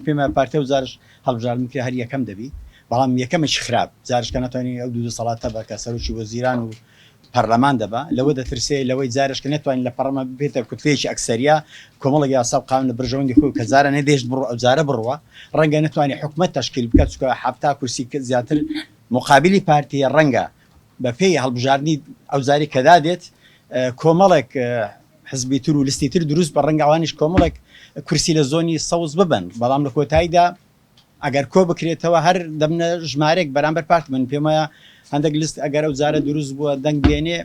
پێمان پارتە و جارش هەڵبژاردن کرا هەر یەکەم دەبی بەڵام یەکەمێکی خراپ جارش کە نەتوانی ئەو دوو دەسەڵاتە بە کە سەرۆکی وەزیران و پەرلەمان دەبا لەوە دەترسێ لەوەی جارش کە نەتوانی لە پەڕەمان ببێتە کوتلەیەکی ئەکسەریا کۆمەڵێک یاسا و قانون لە بەرژەوەندی خۆی کە جارانە دێشت بڕۆ ئەو جارە بڕوا ڕەنگە نەتوانی حکومەت تەشکیل بکا چونکە حەفتا کورسی زیاتر مقابلی پارتیە ڕەنگە بەپێی هەڵبژاردنی ئەوجاری کە دادێت کۆمەڵێک حزبی تر و لستی تر دروست بە ڕەنگە ئەوانیش کۆمەڵێک کورسی لە زۆنی سەوز ببن بەڵام لە کۆتاییدا ئەگەر کۆ بکرێتەوە هەر دەبنە ژمارێک بەرامبەر پارت من پێم وایە هەندێک لست ئەگەر ئەو جارە دروست بووە دەنگ بێنێ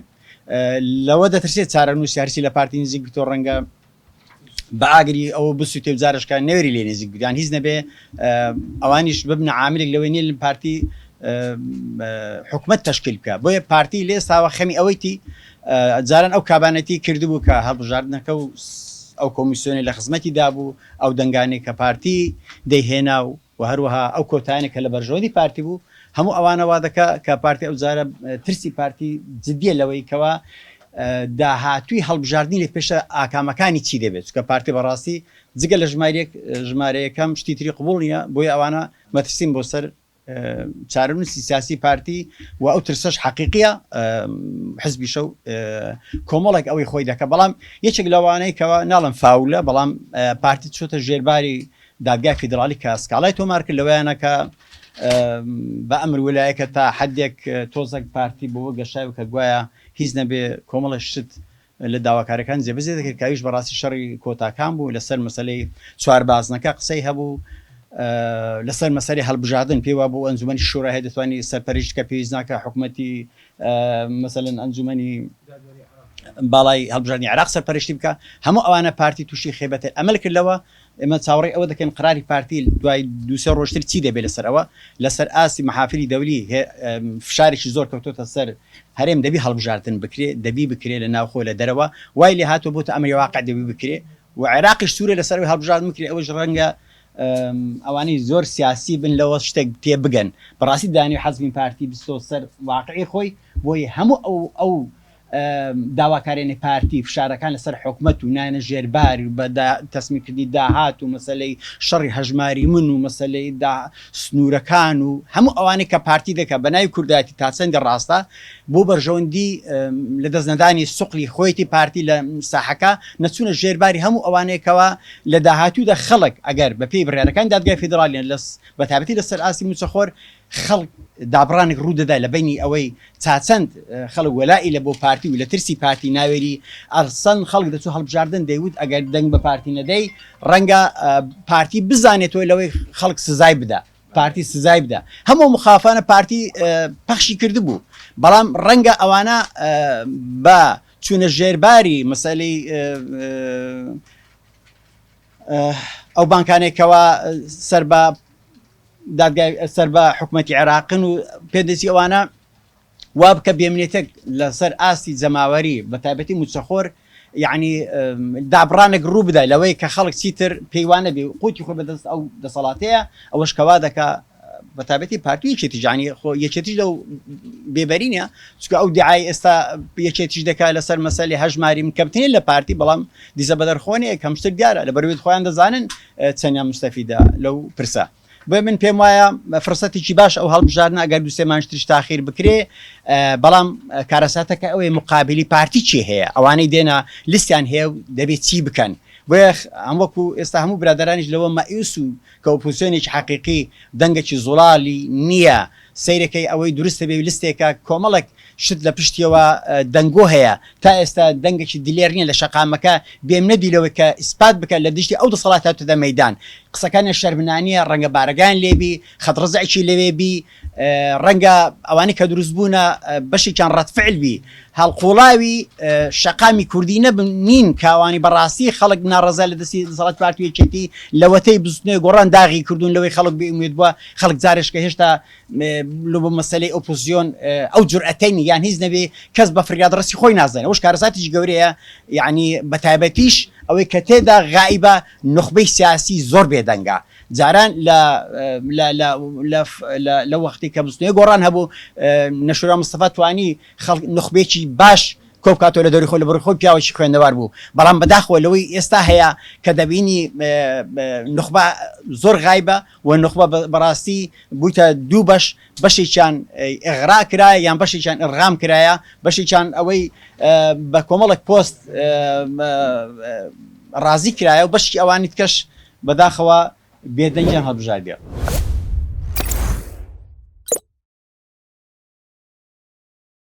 لەوە دەترسێت چارەنووسی هەرچی لە پارتی نزیک بتۆ ڕەنگە بەئاگری ئەوە بسوتێ و جارش کە نەوێری لێ نێزیک بگران هیچ نەبێ ئەوانیش ببنە عاملێک لەوەی نێ پارتی حکومت تشکیل بکە بۆیە پارتی لێ ساوە خەمی ئەوەیتی جاران ئەو کابانەتی کردبوو کە هەڵبژاردنەکە و ئەو کۆمیسیۆنی لە خزمەتی دابوو ئەو دەنگانی کە پارتی دەیهێنا و وە هەروەها ئەو کۆتایانە کە لە بەرژەوەندی پارتی بوو هەموو ئەوانە وا دەکا کە پارتی ئەو جارە ترسی پارتی جدیە لەوەی کەوا داهاتووی هەڵبژاردنی لە پێشە ئاکامەکانی چی دەبێت چونکە پارتی بەڕاستی جگە لە ژمارە یەک ژمارە یەکەم شتی تری قبوڵ نیە بۆیە ئەوانە مەترسیم بۆ سەر چارەنووسی سیاسی پارتی و ئەو ترسەش حەقیقیە حزبی شەو کۆمەڵێک ئەوەی خۆی دەکە بەڵام یەکێک لەوانەی کەەوە ناڵم فاولە بەڵام پارتی چۆتە ژێرباری دادگای فیدراڵی کە سکاڵای تۆمار کرد لەوەیانە کە بە ئەمر ولایەکە تا حدێک تۆزەک پارتی بۆ گەشایو کە گوایە هیچ نەبێ کۆمەڵە شت لە داواکارەکان جێبەجێ دەکرد کاویش بەڕاستی شەڕی کۆتاکان بوو لەسەر مەسلەی چوار بازنەکە قسەی هەبوو لەسەر مەسەری هەڵبژاردن پێوا بۆ ئەنجومی شورا هەیە دەتوانانی سەرپەرشتکە پێویست ناکە حکوومەتی مەسەن ئەنجومی باڵای هەڵبژاردننی عراق سەرپەرشتی بکە هەموو ئەوانە پارتی تووشی خێبەتە ئەمەل کردەوە ئێمە چاوەڕێی ئەوە دەکەین قەراری پارتی دوای دوو سێ ڕۆژتر چی دەبێت لەسەر ئەوە، لەسەر ئاستی محافری دەولی فشارێکی زۆر کەوتۆتە سەر هەرێم دەبی هەڵبژاردن بکرێ دەبی بکرێ لە ناوخۆ لە دەرەوە وای لێ هاتوە بۆتە ئەمری واقع دەبی بکرێ و عێراقیش سورە لەسەر ئەوەی هەڵبژاردن بکرێ ئەوەش ڕەنگە ئەوانەی زۆر سیاسی بن لەوە شتێک تێ بگەن بەڕاستی دانی حەزمی پارتی بستۆ سەر واقعی خۆی بۆی هەموو ئەو ئەو داواکارێنی پارتی، فشارەکان لە سەر حکومەت و نانە ژێر بار و بە دا تەسمی کردنی داهات و مەسەلەی شەڕی هەژماری من و مەسەلەی دا سنوورەکان و هەموو ئەوانەی کە پارتی دەکا بە ناوی کوردایەتی تا چەندی ڕاستە بۆ بەرژەوەندی لە دەست نەدانی سوقلی خۆیەتی پارتی لە ساحەکە نەچوونە ژێر باری هەموو ئەوانەی کەوا لە داهاتوودا خەڵک ئەگەر بە پێی بڕیارەکانی دادگای فیدراڵیان لە بە تایبەتی لە سەر ئاستی مووچەخۆر خەڵک دابڕانێک ڕوودەدا لە بەینی ئەوەی چاچەند خەڵک وەلائی لە بۆ پارتی و لە ترسی پارتی ناوێری ئەرسەن خەڵک دەچوو هەڵبژاردن دەیوت ئەگەر دەنگ بە پارتی نەدەی ڕەنگە پارتی بزانێتەوە لەوەی خەڵک سزای بدا پارتی سزای بدا هەموو مخافانە پارتی پەخشی کردبوو بەڵام ڕەنگە ئەوانە بە چوونە ژێرباری مەسەلی ئەو بانکانێکەوە سەر بە دادگای سەر بە حکومەتی عێراقن و پێدەچی ئەوانە وابکە بێمنێتێک لەسەر ئاستی جەماوەری بە تایبەتی موچەخۆر یعنی دابڕانێک ڕوو بدای لەوەی کە خەڵک چیتر پێیوانە بێ قوتی خۆ بەدەست ئەو دەسەڵاتەیە ئەوەش کەوا دەکا بە تابەتی پارتی یەکێتی جانی خۆ یەکێتیش لەو بێبەرینە چکە ئەو دیعای ئێستا یەکێتیش دەکات لەسەر مەسەلی هەژماری کەمتنی لە پارتی بەڵام دیزە بەدەرخۆنێک کەمشتر دیارە لە بەروێت خۆیان دەزانن چەندیان موستەفیدە لەو پرسە؟ بۆیە من پێم وایە فرسەتێکی باش ئەو هەڵبژاردنە ئەگەر دوو سێ مانج تریش تاخیر بکرێ بەڵام کارەساتەکە ئەوەی مقابلی پارتی چی هەیە ئەوانەی دێنە لیستیان هەیە و دەبێت چی بکەن بۆیە ئەم وەکو ئێستا هەموو برادرانیش لەوە مەئیوس و کە ئۆپوسیۆنێکی حەقیقی دەنگەکی زوڵالی نییە سیرەکەی ئەوەی دروستە بێ لستێکە کۆمەڵک شت لە پشتیەوە دەنگۆ هەیە، تا ئێستا دەنگەکی دلێر نیە لە شەقامەکە بێم نەبی لەوەی کە ئیسپات بکە لە دژی ئەو دەسەڵات هاتۆتە مەیدان. قسەکانیان شەرمنانیە، ڕەنگە بارەگایان لێ بی، خەت ڕزعێکی لەوێ بی، ڕەنگە ئەوانەی کە دروست بوونە بەشێکیان ڕەد فعل بی، هەڵقوڵاوی شەقامی کوردی نەبن نین کاوانی بە ڕاستی خەڵک ناڕەزای لە دەستی دەسەڵاتی پارتی و یەکێتی لەوەتەی بزوتنەوەی گۆڕان داغی کردوون لەوەی خەڵک بێ ئومێد بووە، خەڵک جارێشکە هێشتا لۆ بۆ مەسەلەی ئۆپۆزسیۆن ئەو جورئەتەی نیە یان هیچ نەبێ کەس بە فریاد ڕەسی خۆی نازانێ ئەوش کارەساتیش گەورەیە یانی بە تایبەتیش ئەوەی کە تێدا غائیبە نوخبەی سیاسی زۆر بێدەنگە جاران لە وەختی کە بزوتنەوەی گۆڕان هەبوو نەشورا مستەفا توانی خەڵک نوخبێکی باش کۆ بکاتەوە لە دەوری خۆی لە بڕی خۆی پیاوێکی خوێندەوار بوو بەڵام بەداخەوە لەوەی ئێستا هەیە کە دەبینی نوخبە زۆر غایبە وە نوخبە بەڕاستی بویتە دوو بەش بەشێکیان ئغرا کرایە یان بەشێکیان ئڕغام کرایە بەشێکیان ئەوەی بە کۆمەڵک پۆست ڕازی کرایە و بەشی ئەوانی تکەش بەداخەوە بێدەنگیان هەڵبژاردێ.